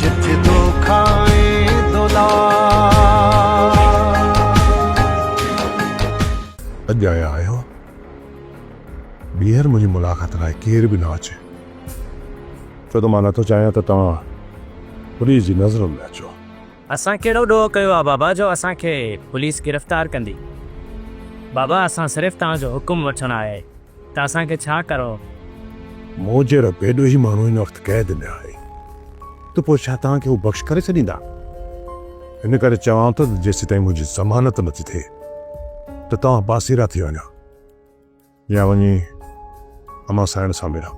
جت دوکا ۽ دولار. اڄ آيا آهيو ٻيهر منهنجي ملاقات لاء ڪير به نه اچي ڇو ته مان نه ٿو چاهيان ته توهان پوليس جي نظرن ۾ اچو. اسان ڪهڙو ڏوهه ڪيو آهي بابا جو اسان کي پوليس گرفتار ڪندي. بابا اسان صرف توهان جو حڪم وٺڻ آيا آهيون. ته اسان کي ڇا ڪرو؟ مون جي رب ڏوهي ماڻهو هن وقت قيد ۾ آهي ته پوء ڇا توهان کي هو بخش ڪري ڇڏيندا؟ ان ڪري چوان ٿو ته جيسيتائين منهنجي ضمانت نٿي ٿئي ته توهان پاسيرا ٿي وڃو يا وڃي امان سائڻ سان ملو.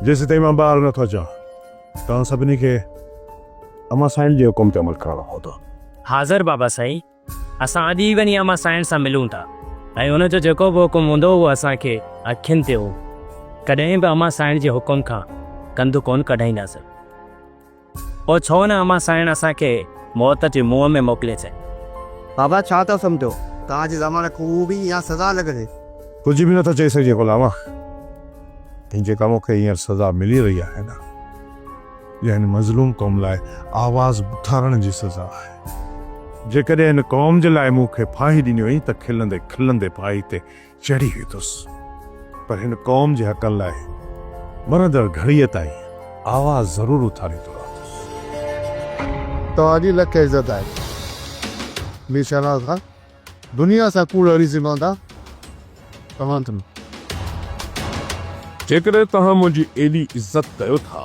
جيسيتائين مان ٻاهر نٿو اچان توهان سڀني کي امان سائڻ جي حڪم تي عمل ڪرڻو پوندو. حاضر بابا سائين! اسان اڄ ئي وڃي امان سائڻ سان ملون ٿا ۽ ان جو جيڪو به حڪم هوندو اهو اسان کي اکين تي هو ڪڏهن به امان سائڻ جي حڪم کان ڪنڌ ڪون ڪڍائينداسين. پوء ڇو نه امان سائڻ اسان کي موت جي منهن ۾ موڪلي ڇڏي. بابا ڇا ٿا سمجهو؟ توهان جي زماني ڪوئو به اها سزا لڳندي. ڪجهه به نٿا چئي سگهجي غلام. جيڪا مون کي هينئر سزا ملي رهي آهي نه. يعني مظلوم قوم لاء آواز اٿارڻ جي سزا آهي. جيڪڏهن هن قوم جي لاء مون کي ڦاهي ڏني وئي ته کلندي کلندي ڦاهي تي چڙهي ويندس پر هن قوم جي حقن لاء مرندڙ گهڙيء تائين آواز ضرور اٿاريندو رهندس. توهان جي لک عزت آهي مير شهنواز خان. دنيا سان ڪوڙ اڙي سگهان ٿا توهان تن. جيڪڏهن توهان منهنجي ايڏي عزت ڪيو ٿا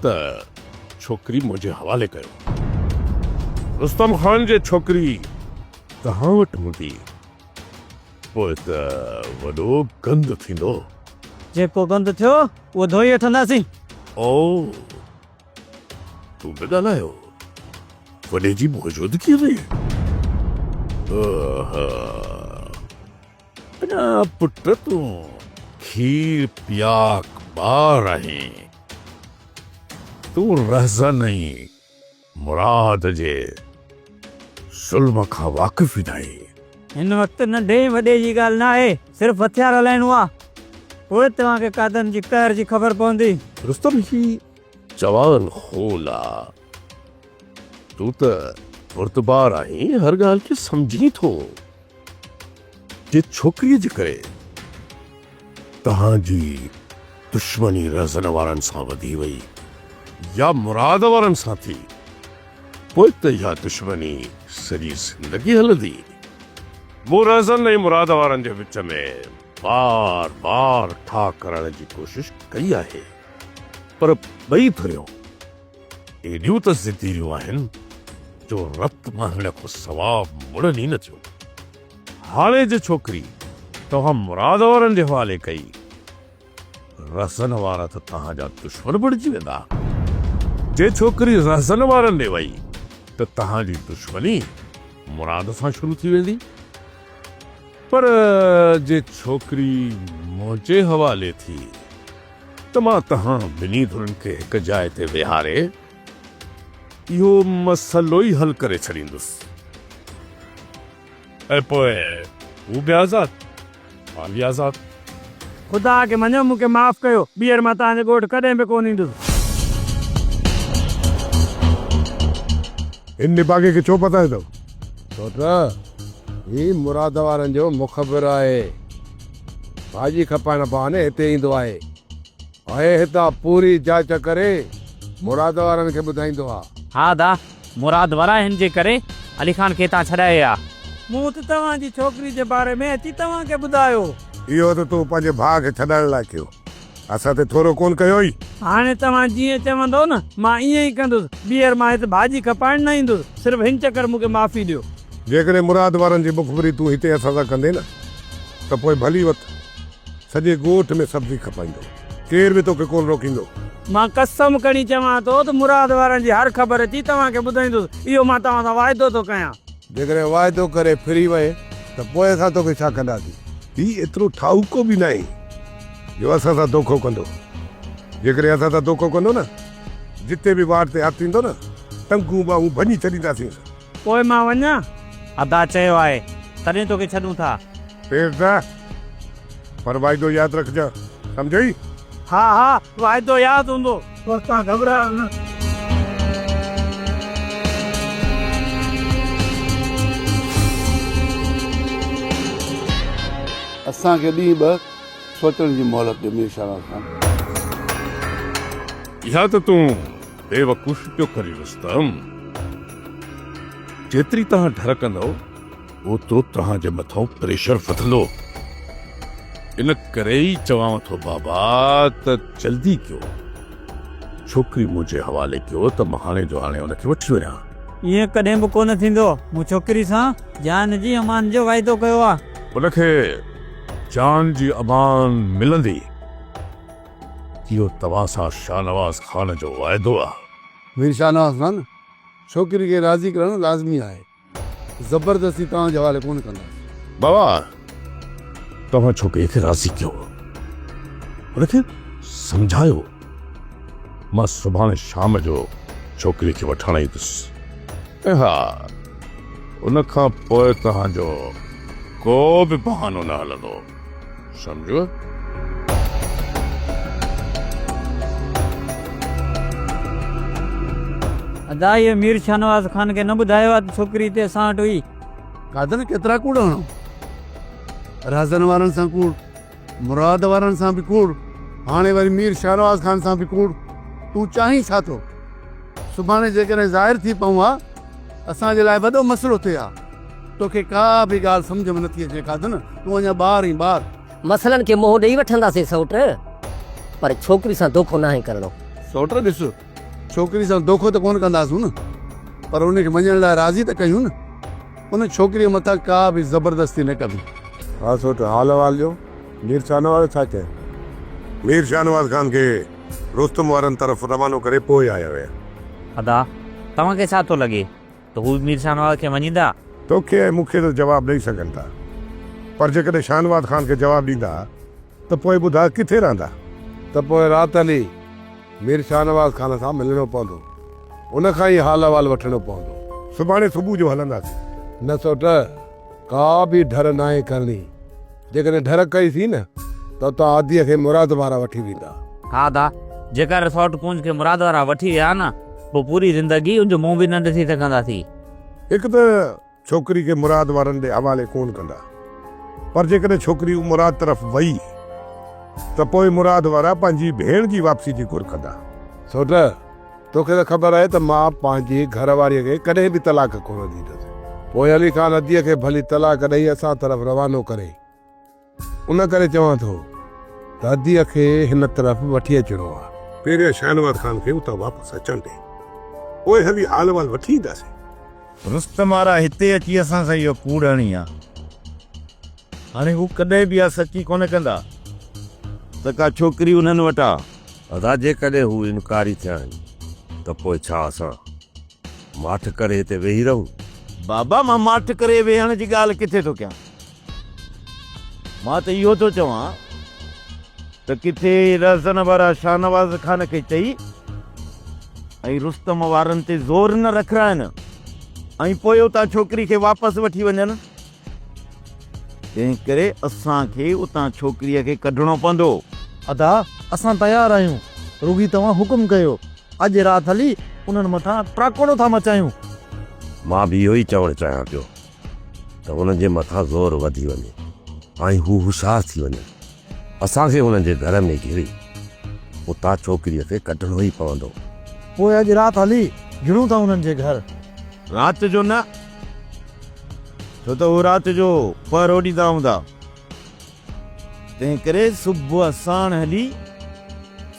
ته ڇوڪري منهنجي حوالي ڪيو. رستم خان جي ڇوڪري توهان وٽ هوندي پوء ته وڏو گند ٿيندو. جيڪو گند ٿيو اهو ڌوئي وٺنداسين. او! تون نه ڳالهايو وڏي جي موجودگيء ۾؟ آها! اڃا پٽ تون کير پياڪ ٻار آهين. تون رهزن ۽ مراد جي ظلم کان واقف ئي ناهي. هن وقت ننڍي ۽ وڏي جي ڳالهه نه آهي، صرف هٿيار هلائڻو آ، پوء توهان کي قاعدن جي قهر جي خبر پوندي. رستم هي جوان خون آ، تون ته بردبار آهين، هر ڳالهه کي سمجهين ٿو. جي ڇوڪريء جي ڪري توهان جي دشمني رهزن وارن سان وڌي وئي يا مراد وارن سان ٿي، پوء ته اها دشمني سڄي زندگي هلندي. مون رهزن ۽ مراد وارن جي وچ ۾ بار بار ٺاهه ڪرڻ جي ڪوشش ڪئي آهي، پر ٻئي ڌريون. ايڏيون ته ضديون آهن جو رت وهڻ کان سواء مڙن ئي نه ٿيون. هاڙهي جي ڇوڪري توهان مراد وارن جي حوالي ڪئي. رهزن وارا ته توهان جا دشمن بڻجي ويندا. جي ڇوڪري رهزن وارن ڏي وئي ته توهان جي دشمني مراد سان شروع ٿي ويندي. پر جي ڇوڪري منهنجي حوالي ٿي. ته مان توهان ٻنهي ڌرين کي هڪ جاء تي ويهاري اهو مسئلو ئي حل ڪري ڇڏيندس ۽ پوء هو به آزاد مان به آزاد. خدا کي مڃيو مون کي معاف ڪيو ٻيهر مان توهان جي ڳوٺ ڪڏهن به ڪونه ايندس. هن نڀاڳي کي ڇو پتايو اٿئو؟ ڇو ته هي مراد وارن جو مخبر آهي. ڀاڄي کپائڻ بهاني هتي ايندو آهي ۽ هتان پوري جاچ ڪري مراد وارن کي ٻڌائيندو آ. ها ادا، مراد وارا هن جي ڪري علي خان کي هتان ڇڏائي آ. مون ته توهان جي ڇوڪري جي باري ۾ اچي توهان کي ٻڌايو. اهو ته تون پنهنجي ڀاء کي ڇڏائڻ لاء ڪيو. اسان تي ٿورو ڪونه ڪيوئي. هاڻي توهان جيئن چوندؤ نه، مان ائين ئي ڪندس. ٻيهر مان هت ڀاڄي کپائڻ نه ايندس. صرف هن چڪر مون کي معافي ڏيو. جيڪڏهن مراد وارن جي مخبري تون هتي اسان سان ڪندين نه، ته پوء ڀلي وت سڄي ڳوٺ ۾ سبزي کپائيندو. ڪير به توکي ڪونه روڪيندو. مان قسم کڻي چوان ٿو ته مراد وارن جي هر خبر اچي توهان کي ٻڌائيندس. اهو مان توهان سان واعدو ٿو ڪيان. جيڪڏهن واعدو ڪري ڦري وئين، ته پوء اسان توکي ڇا ڪنداسين؟ هي ايترو ٺاهوڪو به ناهي. جو اسان سان دوکو ڪندو. جيڪڏهن اسان سان دوکو ڪندو نه، جتي به واٽ تي هٿ ايندو نه، ٽنگون ٻانهون ڀڃي ڇڏينداسينس. پوء مان وڃان؟ ادا چيو آهي، تڏهن توکي ڇڏون ٿا. پيرزا، پر واعدو ياد رکجان، سمجهيئي؟ ها ها، واعدو ياد هوندو. پر توهان گهٻرايو نه. اسان کي ڏينهن ٻه سوچڻ جي مهلت ڏيو مير شاهراز خان. اها ته تون بيوقوفي پيو ڪرين رستم. جيتري توهان ڍرڪندؤ. اوترو توهان جي مٿان پريشر وڌندو. ان ڪري ئي چوانو ٿو بابا ته جلدي ڪيو. ڇوڪري منهنجي حوالي ڪيو ته مان هاڻي جو هاڻي ان کي وٺي وڃان. ائين ڪڏهن به ڪونه ٿيندو. مون ڇوڪري سان جان جي امان جو واعدو ڪيو آهي. ان کي جان جي امان ملندي. اهو توهان سان شاهنواز خان جو واعدو آهي. مير شاهنواز خان، ڇوڪري کي راضي ڪرڻ لازمي آهي. زبردستي توهان جي حوالي ڪونه ڪنداسين. بابا توهان ڇوڪري کي راضي ڪيو ان کي سمجهايو مان سڀاڻي شام جو ڇوڪري کي وٺڻ ايندس ۽ ها ان کان پوء توهان جو ڪو به بهانو نه هلندو. سمجهيو؟ ادا هيء مير شاهنواز خان کي نه ٻڌايو ها ته ڇوڪري هتي اسان وٽ هئي. قادر ڪيترا ڪوڙ هڻو. رهزن وارن سان ڪوڙ. مراد وارن سان به ڪوڙ. هاڻي وري مير شاهنواز خان سان به ڪوڙ. تون چاهين ڇا ٿو؟ سڀاڻي جيڪڏهن ظاهر ٿي پئون ها اسان جي لاء وڏو مسئلو ٿئي ها. توکي ڪا به ڳالهه سمجهه ۾ نٿي اچي قادن، تون اڃا ٻار آهين، ٻار. مسئلن کي منهن ڏئي وٺنداسين سئوٽ، پر ڇوڪري سان دوکو ناهي ڪرڻو. سئوٽ ڏس، ڇوڪري سان دوکو ته ڪونه ڪنداسون نه، پر ان کي وڃڻ لاء راضي ته ڪيون نه. ان ڇوڪريء مٿان ڪا به زبردستي نه ڪبي. ها سئوٽ، حال احوال ڏيو، مير شاهنواز ڇا چيائين؟ مير شاهنواز خان کي رستم وارن طرف روانو ڪري پوء آيا ويا. ادا، توهان کي ڇا ٿو لڳي، ته هو به مير شاهنواز کي مڃيندا؟ توکي ۽ مون کي ته جواب ڏئي سگهن ٿا، پر جيڪڏهن شاهنواز خان کي جواب ڏيندا ته پوء ٻڌاء ڪٿي رهندا؟ ته پوء رات هلي مير شاهنواز خان سان ملڻو پوندو. ان کان ئي حال احوال وٺڻو پوندو. سڀاڻي صبح جو هلنداسين. نه سوٽ! ڪا به ڍر ناهي ڪرڻي. جيڪڏهن ڍر ڪئي ٿي نه ته اتان آڌيء کي مراد وارا وٺي ويندا. ها ادا، جيڪر اساوٽ ڪونج کي مراد وارا وٺي ويا نه پوء پوري زندگي ان جو منهن به نه ڏسي سگهنداسين. هڪ ته ڇوڪري کي مراد وارن ڏي حوالي ڪونه ڪندا. پر جيڪڏهن ڇوڪري مراد طرف وئي ته پوء مراد وارا پنهنجي ڀيڻ جي واپسي جي گهر ڪندا. سوٽ! توکي ته خبر آهي ته مان پنهنجي گهر واريء کي ڪڏهن به طلاق ڪونه ڏيندس. پوء علي خان اديء کي ڀلي طلاق ڏئي اسان طرف روانو ڪري. ان ڪري چوان ٿو ته اديء کي هن طرف وٺي اچڻو آهي. پهريان شاهنواز خان کي اتان واپس اچڻ ڏي. پوء هلي حال احوال وٺي اينداسين. رستم آرا هتي اچي اسان سان اهو ڪوڙ هڻي ها. هاڻي هو ڪڏهن به اها سچي ڪونه ڪندا ته ڪا ڇوڪري انهن وٽ آ. ادا جيڪڏهن هو انڪاري ٿيا آهن ته پوء ڇا اسان ماٺ ڪري هتي ويهي رهون؟ بابا مان ماٺ ڪري ويهڻ جي ڳالهه ڪٿي ٿو ڪيان. مان ته اهو ٿو چوان ته ڪٿي رهزن وارا شاهنواز خان کي چئي ۽ رستم وارن تي زور نه رکرائين ۽ پوء اتان ڇوڪري کي واپس وٺي وڃن. تنهن ڪري اسان کي اتان ڇوڪريء کي ڪڍڻو پوندو. ادا اسان تيار آهيون رڳي توهان حڪم ڪيو اڄ رات هلي انهن مٿان ٽراڪوڙو ٿا مچايون. مان به اهو ئي چوڻ چاهيان پيو ته انهن جي مٿان زور وڌي وڃي ۽ هو هوشيار ٿي وڃن. اسان کي هنن جي گهر ۾ گهري اتان ڇوڪريء کي ڪڍڻو ئي پوندو. پوء اڄ رات هلي گهڙون ٿا هنن جي گهر. رات جو نه، ڇو ته هو رات جو پهرو ڏيندا هوندا. تنهنڪري صبح ساڻ هلي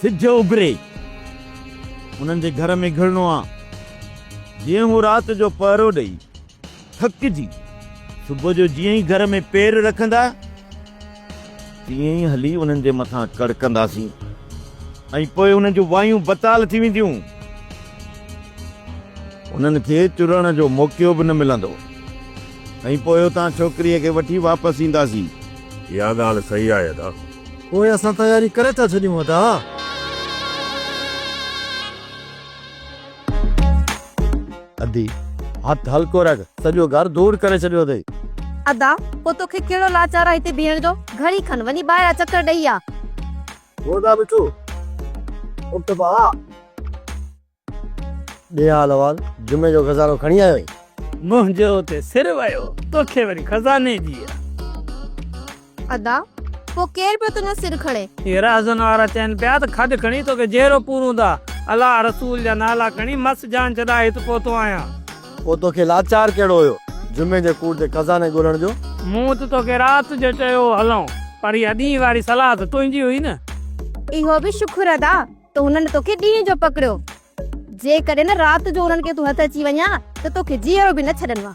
سج اڀري هنن جي گهر ۾ گهڙڻو آ. جيئن هو رات جو پهرو ڏئي. ٿڪجي صبح جو جيئن ئي گهر ۾ پير رکندا تيئن ئي هلي انهن جي مٿان ڪڙڪنداسين ۽ پوء انهن جون وايون بتال ٿي وينديون. انهن کي چرڻ جو موقعو به نه ملندو ۽ پوء اتان ڇوڪريء کي وٺي واپس اينداسين. اها ڳالهه صحيح آهي ادا. پوء اسان تياري ڪري ٿا ڇڏيون ادا. ادي هٿ هلڪو رک سڄو گهر ڌوڙ ڪري ڇڏيو اٿئي. ادا پوء توکي ڪهڙو لاچار آ هتي بيهڻ جو گهڙي کن وڃي ٻاهران چڪر ڏئي آ. گودا مٺو اٿ ڀاء. ڏي حال احوال جمعي جو خزانو کڻي آيو آهين. منهنجو اتي سر ويو توکي وري خزاني جي. ادا پو ڪير پيو تنهنجو سر کڻي. هيرا حسن وارا چين پيا ته کڏ کڻي توکي جهيرو پورون ٿا الله رسول جا نالا کڻي مس جان ڇڏائي هت پهتو آهيان. پو توکي لاچار ڪهڙو هيو جمعي جي ڪوٽ تي خزاني ڳولڻ جو. مون ته توکي رات جو چيو هو هلئون پر اها ڏينهن واري صلاح ته تنهنجي هئي نه. اهو به شڪر ادا ته هنن توکي ڏينهن جو پڪڙيو جيڪڏهن رات جو انهن کي تون هٿ اچي وڃان ته توکي جيئرو به نه ڇڏن وا.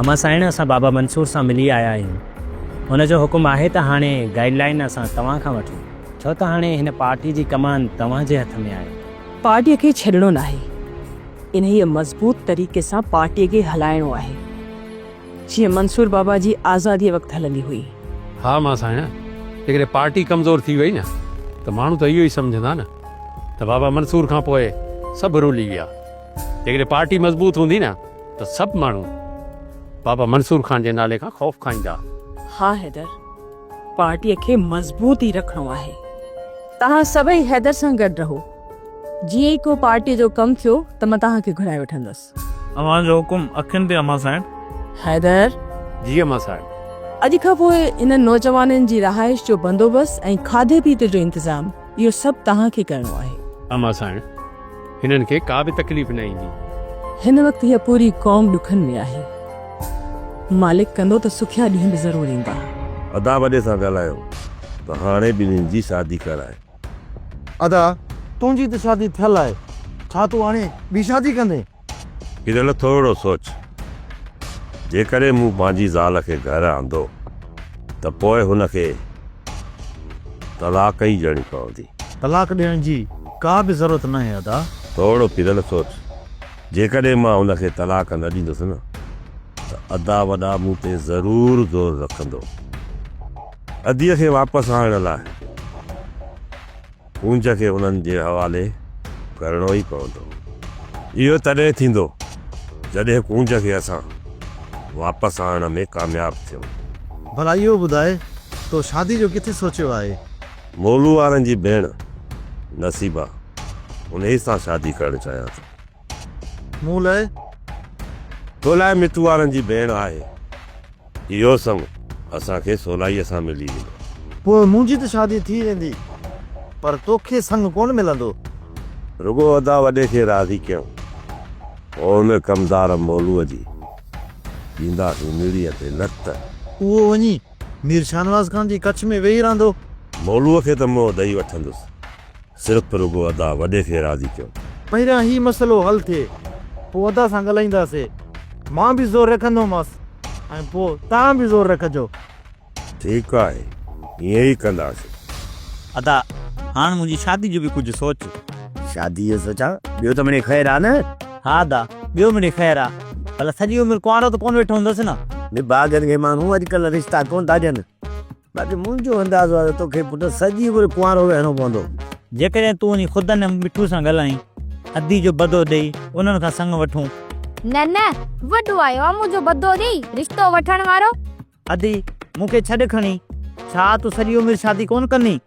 امان سائڻ اسان بابا منصور سان ملي آيا آهيون ان جو حڪم آهي ته هاڻي گائيڊ لائين اسان توهان کان وٺون ڇو ته هاڻي هن پارٽي جي ڪمان توهان جي هٿ ۾ آهي. پارٽي کي ڇڏڻو ناهي انهيء مضبوط طريقي سان پارٽي کي هلائڻو آهي. جيئن منصور بابا جي آزاديء وقت هلندي هئي. ها مان ساڻيان، جيڪڏهن پارٽي ڪمزور ٿي وئي نه ته ماڻهو ته اهو ئي سمجهندا نه ته بابا منصور کان پوء سڀ رولي ويا. جيڪڏهن پارٽي مضبوط هوندي نه ته سڀ ماڻهو بابا منصور خان جي نالي کان خوف کائيندا. ها حيدر، پارٽيء کي مضبوط ئي رکڻو آهي. توهان سڀئي حيدر سان گڏ رهو. جيئن ئي ڪو پارٽيء جو ڪم ٿيو ته مان توهان کي گهرائي وٺندس. اوهان جو حڪم اکين تي اما سائڻ. حيدر! جي اما سائڻ. اڄ کان پوء انهن نوجوانن جي رهائش جو بندوبست ۽ کاڌي پيتي جو انتظام اهو سڀ توهان کي ڪرڻو آهي. اما سائڻ! هنن کي ڪا به تڪليف نه ايندي. هن وقت هيء پوري قوم ڏکن ۾ آهي. مالڪ ڪندو ته سکيا ڏينهن به ضرور ايندا. ادا وڏي سان ڳالهايو ته هاڻي ٻنهين جي شادي ڪرائي. ادا تنهنجي ته شادي ٿيل آهي ڇا تون هاڻي ٻي شادي ڪندين؟ هيرل ٿورڙو سوچ جيڪڏهن مون پنهنجي زال کي گهر آندو ته پوء هن کي طلاق ئي ڏيڻي پوندي. طلاق ڏيڻ جي ڪا به ضرورت ناهي ادا. ٿورڙو پيرل سوچ جيڪڏهن مان هن کي طلاق نه ڏيندس نه ته ادا وڏا مون تي ضرور زور رکندو. اديء کي واپس آڻڻ لاء ڪونج کي انهن جي حوالي ڪرڻو ئي پوندو. اهو تڏهن ٿيندو جڏهن ڪونج کي اسان واپس آڻڻ ۾ ڪامياب ٿيون. ڀلا اهو ٻڌاء تو شادي جو ڪٿي سوچيو آهي؟ مولو وارن جي ڀيڻ نصيبه انهيء سان شادي ڪرڻ چاهيان ٿو. مون لاء؟ تو لاء متو وارن جي ڀيڻ آهي. اهو سڱ اسان کي سولائيء سان ملي ويندو. پوء منهنجي ته شادي ٿي ويندي، پر توکي سڱ ڪونه ملندو. رڳو ادا وڏي کي راضي ڪيائون. پوء ان ڪمدار مولوء جي ڏينداسين نڙيء تي لت. اهو وڃي مير شاهنواز خان جي ڪڇ ۾ ويهي رهندو. مولوء کي ته مئو ڏئي وٺندس، صرف ته رڳو ادا وڏي کي راضي ڪيو. پهريان هي مسئلو حل ٿئي پوء ادا سان ڳالهائينداسي. مان به زور رکندومانس ۽ پوء توهان به زور رکجو. ٺيڪ آهي ائين ئي ڪنداسين. ادا هاڻ منهنجي شادي جو به ڪجهه سوچ. شادي جو سوچان؟ ٻيو ته مڙئي خير آ نه. ها ادا ٻيو مڙئي خير آ. ڀلا سڄي عمر ڪنوارو ته ڪونه ويٺو هوندس نه. نڀاڳن کي ماڻهو اڄڪلهه رشتا ڪونه ٿا ڏين. باقي منهنجو اندازو آهي ته توکي پٽ سڄي عمر ڪنوارو ويهڻو پوندو. جيڪڏهن تون وڃي خدن ۽ مٺو سان ڳالهائين، ادي جو بدو ڏئي انهن کان سڱ وٺون. نه نه، وڏو آيو آهي منهنجو بدو ڏئي رشتو وٺڻ وارو. ادي، مون کي ڇڏ کڻي. ڇا تون سڄي عمر شادي ڪونه ڪندين؟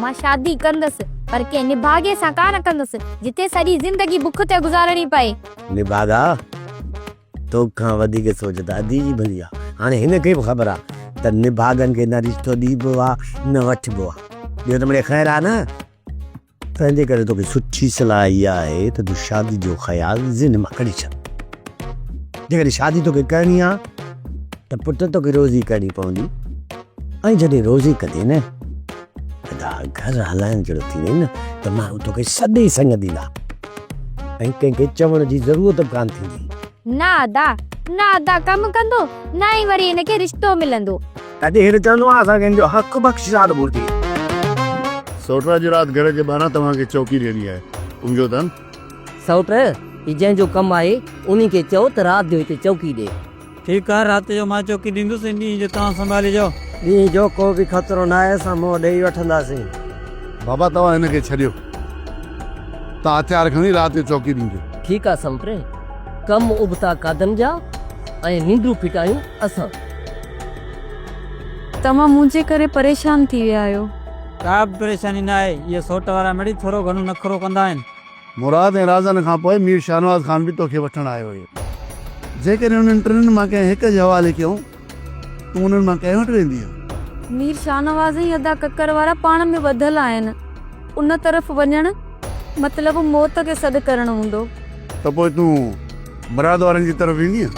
مان شادي ڪندس، پر ڪنهن نڀاڳي سان ڪانه ڪندس، جتي سڄي زندگي بک تي گذارڻي پئي. نڀاڳا! تو کان وڌيڪ سوچ ته ادي جي ڀلي آ. هاڻي هن کي به خبر آ ته نڀاڳن کي نه رشتو ڏيبو آ نه وٺبو آ. ٻيو ته مڙي خير آ نه. تنهنجي ڪري توکي سٺي صلاح اها آهي ته تون شادي جو خيال ذهن مان ڪڍي ڇڏ. جيڪڏهن شادي توکي ڪرڻي آ ته پٽ توکي روزي ڪرڻي پوندي ۽ جڏهن روزي ڪندين نه. ادا گهر هلائڻ جهڙو ٿي وئين نه ته ماڻهو توکي سڏي سڱديندا ۽ ڪنهن کي چوڻ جي ضرورت به ڪانه ٿيندي. نه ادا، نه ادا ڪم ڪندو، نه ئي وري هن کي رشتو ملندو. تڏهن هن چوندو ها اسان کي هن جو حق بخش ذات گهرجي. سئوٽ اڄ رات گهر جي ٻاهران توهان کي چوڪي ڏيڻي آهي. سمجهيو ٿا نه. سئوٽ، هي جنهن جو ڪم آهي انهي کي چئو ته رات جو هتي چوڪي ڏي. ٺيڪ آهي رات جو مان چوڪي ڏيندس ۽ ڏينهن جو توهان سنڀاليجو. ڏينهن جو ڪو به خطرو ناهي اسان منهن ڏيئي وٺنداسين. بابا توهان هن کي ڇڏيو توهان هٿيار کڻي رات جو چوڪي ڏينديو. ٺيڪ آهي سمپري ڪم ابتا قادن جا ۽ ننڊون ڦٽايون اسان. توهان منهنجي ڪري پريشان ٿي ويا آهيو. ڪا به پريشاني ناهي اهي سوٽ وارا مڙئي ٿورو گهڻو نخرو ڪندا آهن. مراد ۽ رازن کان پوء مير شاهنواز خان به توکي وٺڻ آيو هيو. جيڪڏهن انهن ٽنهن مان ڪنهن هڪ جي حوالي ڪيئون، تون انهن مان ڪنهن وٽ ويندينء؟ مير شاهنواز ۽ ادا ڪڪر وارا پاڻ ۾ ٻڌل آهن. ان طرف وڃڻ مطلب موت کي سڏ ڪرڻ هوندو. ته پوء تون مراد وارن جي طرف ويندينء؟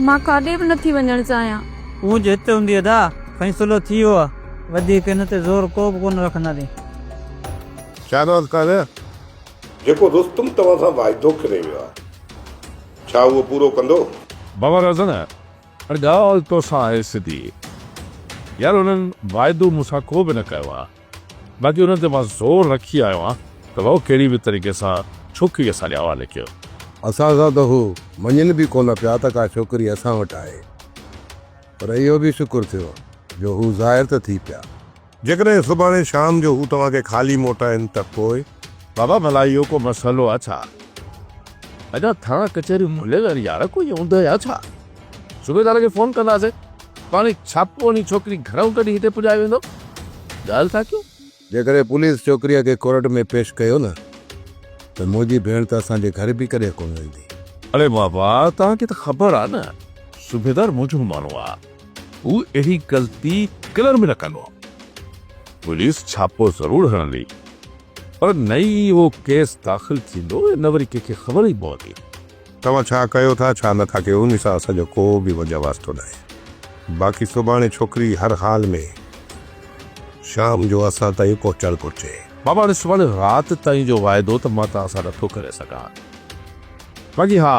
مان ڪاڏي به نٿي وڃڻ چاهيان. تون جو هتي هوندينء ادا، فيصلو ٿي ويو آهي. وڌيڪ هن تي زور ڪو به ڪونه رکنداسين. ڇا راز ڪار آهي؟ جيڪو رستم توهان سان واعدو ڪري ويو آهي، ڇا اهو پورو ڪندو؟ بابا رزن، پر ڳالهه تو سان آهي سڌي. يار انهن واعدو مون سان ڪو به نه ڪيو آهي، باقي انهن تي مان زور رکي آيو آهيان ته هو ڪهڙي به طريقي سان ڇوڪري اسان جي حوالي ڪيو. اسان سان ته هو مڃين به ڪونه پيا ته ڪا ڇوڪري اسان وٽ آهي، پر اهو به شڪر ٿيو جو هو ظاهر ته ٿي پيا. جيڪڏهن سڀاڻي شام جو هو توهان کي خالي موٽائين ته پوء؟ بابا ڀلا اهو ڪو مسئلو آ ڇا؟ ادا ٿاڻا ڪچهري مليل آهن يار ڪوئي اوندهه آ ڇا؟ صوبيدار کي فون ڪنداسين پاڻي ڇاپو هڻي ڇوڪري گهرائون ڪڍي هتي پڄائي ويندو ڳالهه ٿا ڪيون. جيڪڏهن پوليس ڇوڪريء کي ڪورٽ ۾ پيش ڪيو نه ته منهنجي ڀيڻ ته اسان جي گهر به ڪڏهن ڪونه ايندي. اڙي بابا توهان کي ته خبر آ نه صوبيدار منهنجو ماڻهو آ. هو اهڙي غلطي ڪلر ۾ نه ڪندو هو. پوليس ڇاپو ضرور هڻندي پر نه ئي اهو ڪيس داخل ٿيندو ۽ نه وري ڪنهن کي خبر ئي پوندي. توهان ڇا ڪيو ٿا ڇا نه ٿا ڪيو ان سان اسان جو ڪو به وجهه واسطو ناهي. باقي سڀاڻي ڇوڪري هر حال ۾ شام جو اسان تائين پهچڻ گهرجي. بابا هاڻي سڀاڻي رات تائين جو واعدو ته مان توهان سان نه ٿو ڪري سگهان. باقي ها.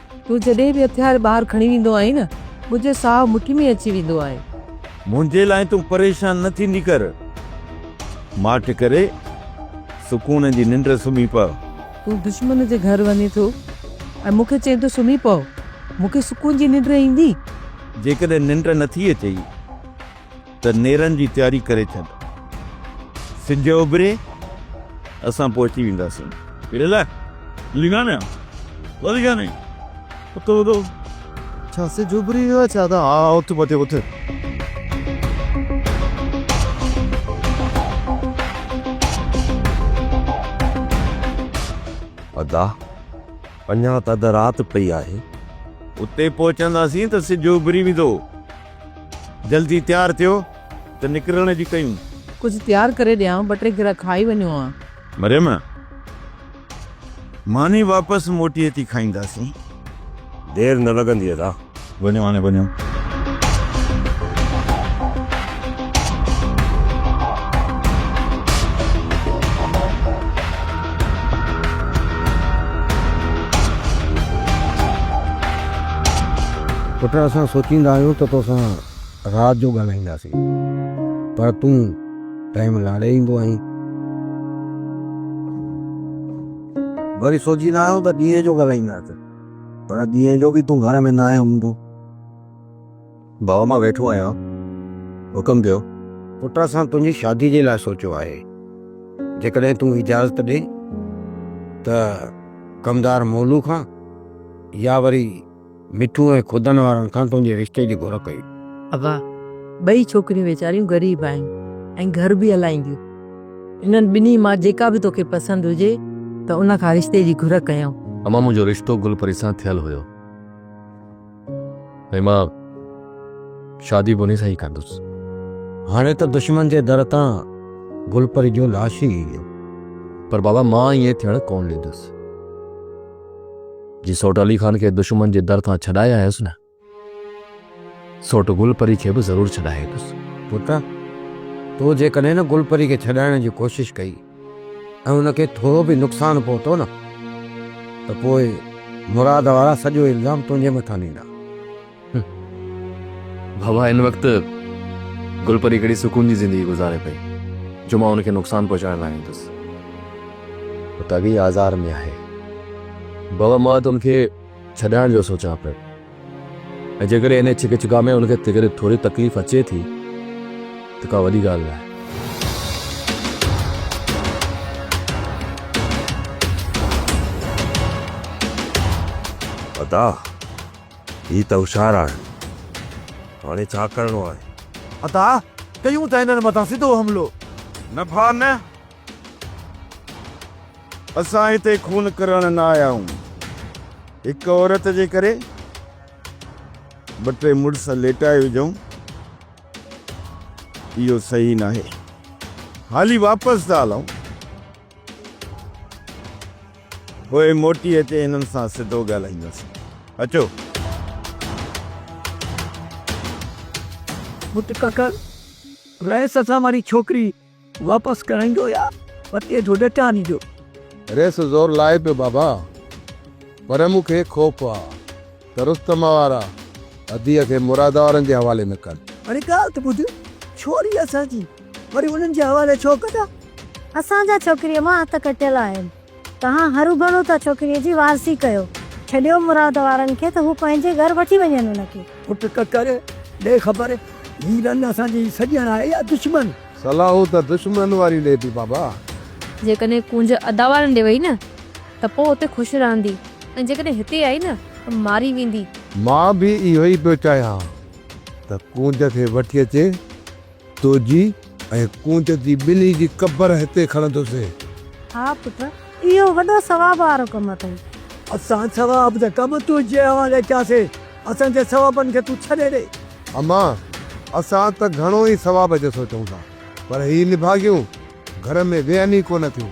تون جڏهن به هٿيار ٻاهر کڻي ويندو آهين نه منهنجو ساهه مٺي ۾ اچي ويندو آهي. منهنجي لاء تون پريشان نه ٿيندي ڪر. ماٺ ڪري سڪون جي ننڊ سمهي پء. تون دشمن جي گهر وڃين ٿو ۽ مون کي چئين ٿو سمهي پء. مون کي سڪون جي ننڊ ايندي؟ جيڪڏهن ننڊ نه ٿي اچئي. ته نيرن جي تياري ڪري ڇڏ. سج اڀري اسان پهچي وينداسين. ليلا، ليلا نه ڪو ليلا نه اٿ اٿ. ڇا سج اڀري ويو آهي ڇا؟ ها ها اٿ پتي اٿ. ادا، اڃا ته اڌ رات پئي آهي. اتي پهچنداسين ته سج اڀري ويندو. جلدي تيار ٿيو ته نڪرڻ جي ڪيون. ڪجهه تيار ڪري ڏيان، ٻه ٽي گرهه کائي وڃون ها. مريم، ماني واپس موٽي اچي کائينداسين. دير نه لڳندي ادا. وڃو هاڻي وڃو. پٽ اسان سوچيندا آهيون ته توسان رات جو ڳالهائينداسين پر تون ٽائيم لاڙي ايندو آهين. وري سوچيندا آهيون ته ڏينهن جو ڳالهائينداسين پر ڏينهن جو به تون گهر ۾ ناهين هوندو. ڀاء مان ويٺو آهيان حڪم ڪيو. پٽ اسان تنهنجي شادي جي لاء سوچيو آهي جيڪڏهن تون اجازت ڏي ته ڪمدار مولو کان يا وري مٺو ۽ خدن وارن کان تنهنجي رشتي جي گهر ڪيون. ادا ٻئي ڇوڪريون ويچاريون غريب آهن ۽ گهر به هلائينديون انهن ٻنهي مان جيڪا به توکي پسند هجي ته ان کان رشتي جي گهر ڪيون. اما منهنجو رشتو گل پري سان ٿيل هيو. ۽ مان شادي به انهي سان ئي ڪندس. هاڻي ته دشمن جي در تان گلپري جو لاش ئي ايندو. پر بابا مان ائين ٿيڻ ڪونه ڏيندس. جي سوٽ علي خان کي دشمن جي در تان ڇڏائي آيس نه سوٽ گلپري کي به ضرور ڇڏائيندس. پٽ تو جيڪڏهن نه گلپري کي ڇڏائڻ جي ڪوشش ڪئي. ۽ ان کي ٿورو به نقصان پهتو نه ته پوء مراد وارا سڄو الزام تنهنجي مٿان ڏيندا. بابا هن وقت گل پري ڪهڙي سڪون جي زندگي گذاري پئي جو مان ان کي نقصان پهچائڻ لاء ايندس. هو ته اڳ ئي آزار ۾ آهي. بابا مان ته ان کي ڇڏائڻ جو سوچان پيو. ۽ جيڪڏهن انهيء ڇڪ ڇڪاء ۾ ان کي ڪڏهن ٿوري تڪليف اچي ٿي ته ڪا وڏي ڳالهه ناهي. ادا هي ته هوشيار آهن. هاڻي ڇا ڪرڻو آهي؟ ادا ڪيون ته انهن مٿان سڌو حملو. نه ڀاء نه. اسان هتي خون ڪرڻ نه آيا آهيون. هڪ عورت جي ڪري ٻه ٽي مڙس ليٽائي وجهون اهو صحيح ناهي. هالي واپس ٿا هلون. پوء موٽي اچي هنن سان سڌو ڳالهائينداسين. اچو. مٽ ڪڪر رئيس اسان واري ڇوڪري. واپس ڪرائيندو يا پتي جو ڏٽا ڏيندو. ريس زور لائي پيو بابا، پر مون کي خوف آ ته رستم وارا اديء کي مراد وارن جي حوالي نه ڪن. هاڻي ڳالهه ته ٻڌ، ڇوري اسان جي، وري انهن جي حوالي ڇو ڪندا؟ اسان جا ڇوڪريء مان هٿ ڪٽيل آهن. توهان هروڀرو ته ڇوڪريء جي وارثي ڪيو. ڇڏيو مراد وارن کي ته هو پنهنجي گهر وٺي وڃن ان کي. پٽ ڪڪر، ڏي خبر، هي رن اسان جي سڄڻ آهي يا دشمن؟ صلاح ته دشمنن واري ڏي ٿي بابا. جيڪڏهن ڪونج ادا وارن ڏي وئي نه ته پوء اتي خوش رهندي ۽ جيڪڏهن هتي آئي نه ته ماري ويندي. مان به اهو ئي پيو چاهيان ته ڪونج کي وٺي اچي. توجي ۽ ڪونج جي ٻنهي جي قبر هتي کڻندوسين. ها پٽ، اهو وڏو ثواب وارو ڪم اٿئي. اسان ثواب جا ڪم تنهنجي حوالي ڪياسين، اسان جي ثوابن کي تون ڇڏي ڏي. اما، اسان ته گهڻو ئي ثواب جو سوچون ٿا، پر هي نڀاڳيون گهر ۾ ويهن ئي ڪونه ٿيون.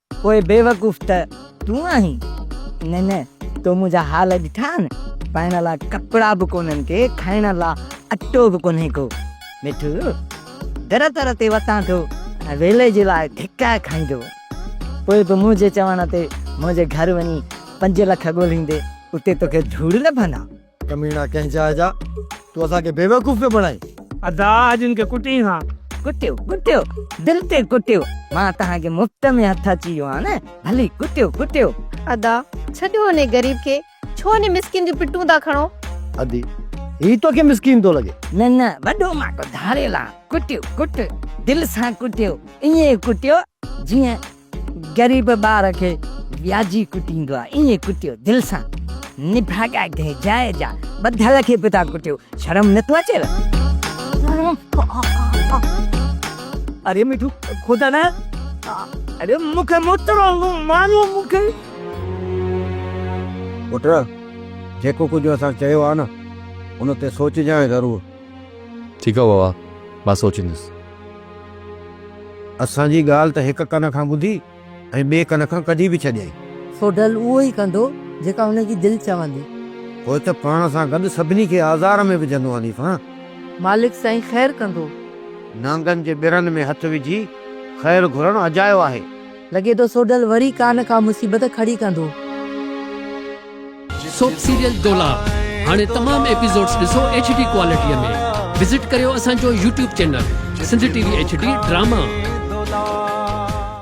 پوء بيوقوف ته تون آهين. نه نه تو منهنجا حال ڏٺا آهن. پائڻ لا ڪپڙا به ڪونهن ڪي کائڻ لا اٽو به ڪونهي ڪو. مٺو در در تي وتان ٿو ۽ ويلي جي لاء ڌڪا کائيندو. پوء به منهنجي چوڻ تي منهنجي گهر وڃي پنج لک ڳولهيندي اتي توکي ڌوڙ لڀندا. ڪميڻا ڪنهن جاء جا تون اسان کي بيوقوف پيو بڻائين. ادا اڄ ان کي ڪٽين ها. ڪٽيو ڪٽيو دل تي ڪٽيو مان توهان کي مفت ۾ هٿ اچي ويو آهيان نه ڀلي ڪٽيو ڪٽيو. ادا ڇڏيو انهي غريب کي ڇو انهي مسڪين جون پٽون ٿا کڻو. ادي هي توکي مسڪين ٿو لڳي. نه نه وڏو ماٺو ڌاڙيل آهان ڪٽيو ڪٽيو دل سان ڪٽيو ائين ڪٽيو جيئن. غريب ٻار کي وياجي ڪٽيندو آ ائين ڪٽيو دل سان نڀاڳا گهي جاء جا ٻڌل کي به ٿا ڪٽيو شرم نٿو اچيو اري مٺو خدا نه اري مونکي مترو ماريو مونکي پٽ جيڪو ڪجهه اسان چيو آ نه ان تي سوچجانء ضرور. ٺيڪ آ بابا مان سوچيندس. اسان جي ڳالهه ته هڪ ڪن کان ٻڌي ۽ ٻئي ڪن کان ڪڍي به ڇڏيائين. سو ڍل اهو ئي ڪندو، جيڪا هن جي دل چوندي. پوء ته پاڻ سان گڏ سڀني کي آزار ۾ وجهندو آندي سان. مالڪ سائين خير ڪندو. نانگن جي ٻرن ۾ هٿ وجهي خير گهرڻ اجايو آهي. لڳي ٿو سوڍل وري ڪا نه ڪا مصيبت کڙي ڪندو. سوپ سيريل دولاب هاڻي تمام ايپيسوڊز ڏسو ايڇ ڊي ڪوالٽي ۾ وزٽ ڪريو اسان جو YouTube channel Sindh T V H D drama.